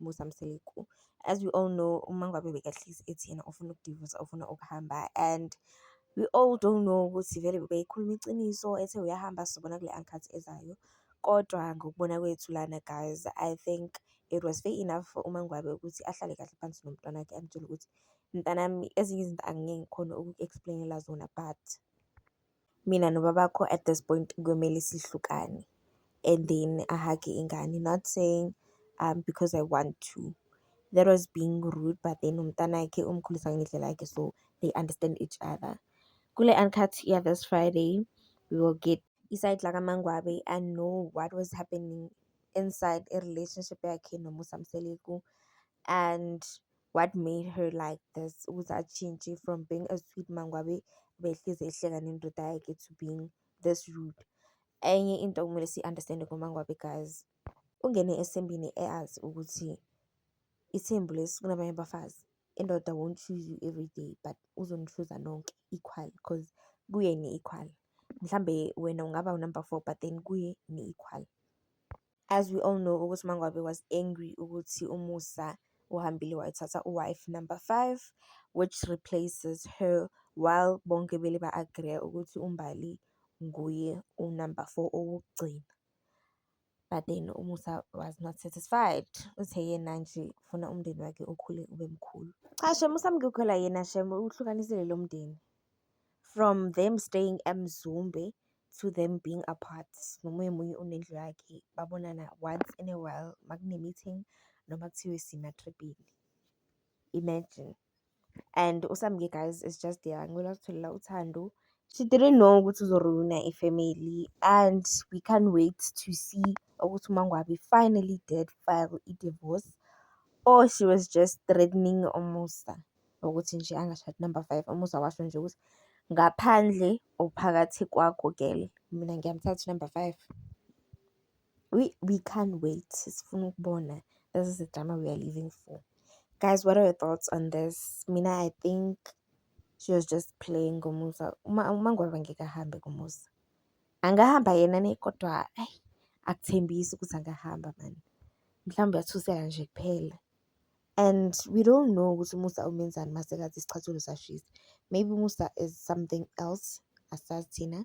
Musa Mseleku. As we all know, uMangwabe bekahlezi ethi yena ufuna ukudivosa, ufuna ukuhamba and we all don't know ukuthi vele bebeyikhuluma iqiniso ethe uyahamba sizobona kule ankathi ezayo. Kodwa ngokubona kwethu lana guys, I think it was fair enough for uMangwabe ukuthi ahlale kahle phansi nomntwana wakhe amtshele ukuthi mntanami ezinye izinto angeke ngikhone ukuku-explain-ela zona but Mina nobabakho at this point kuyomele sihlukane and then ahage ingane not saying um because I want to that was being rude but then umntanakhe umkhulisa ngendlela yakhe so they understand each other. Kule uncut ya this Friday we will get iside lakamangwabe and know what was happening inside a relationship yakhe nomusa mseleku and what made her like this ukuthi atshintshe from being a sweet mangwabe behlezi ehleka nendoda yakhe to being this rude enye into okumele siyi-understande ngomangwabe guys ungene esembini eyazi ukuthi ithembu lesi kunabanye abafazi indoda won't choose you every day but uzonichuza nonke equal because kuye ni-equal mhlambe wena ungaba unumber four but then kuye ni-equal As we all know ukuthi uMaNgwabe was angry ukuthi uMusa uhambile wayothatha u-wife number five which replaces her while bonke bele ba-agreya ukuthi uMbali nguye unumber four owokugcina. But then uMusa was not satisfied uthe yena nje ufuna umndeni wakhe ukhule ube mkhulu. Cha shem uSamkhukhula yena shem uhlukanisile lo mndeni from them staying eMzumbe to them being apart nomunye munye unendlu yakhe babonana once in a while makune-meeting noma kuthiwe simatribhini imagine and usamke guys is just there ngicela kutholela uthando she didn't know ukuthi uzoruina ifamily and we can't wait to see ukuthi umangwabi finally did file i-divorce or she was just threatening umusa ukuthi nje angashadi number five, umuzwa washo nje ukuthi ngaphandle or phakathi kwakho girl mina ngiyamthatha u-number five. We we can't wait sifuna ukubona this is the drama we are living for. Guys, what are your thoughts on this? Mina I think she was just playing ngomusa uma uma ngoba ngeke ahambe ngomusa angahamba yena ne kodwa ayi akuthembisi ukuthi angahamba mani mhlawumbe uyathuseka nje kuphela And we don't know ukuthi uMusa umenzani uma sengathi isicathulo sashisa. Maybe uMusa is something else asazi thina.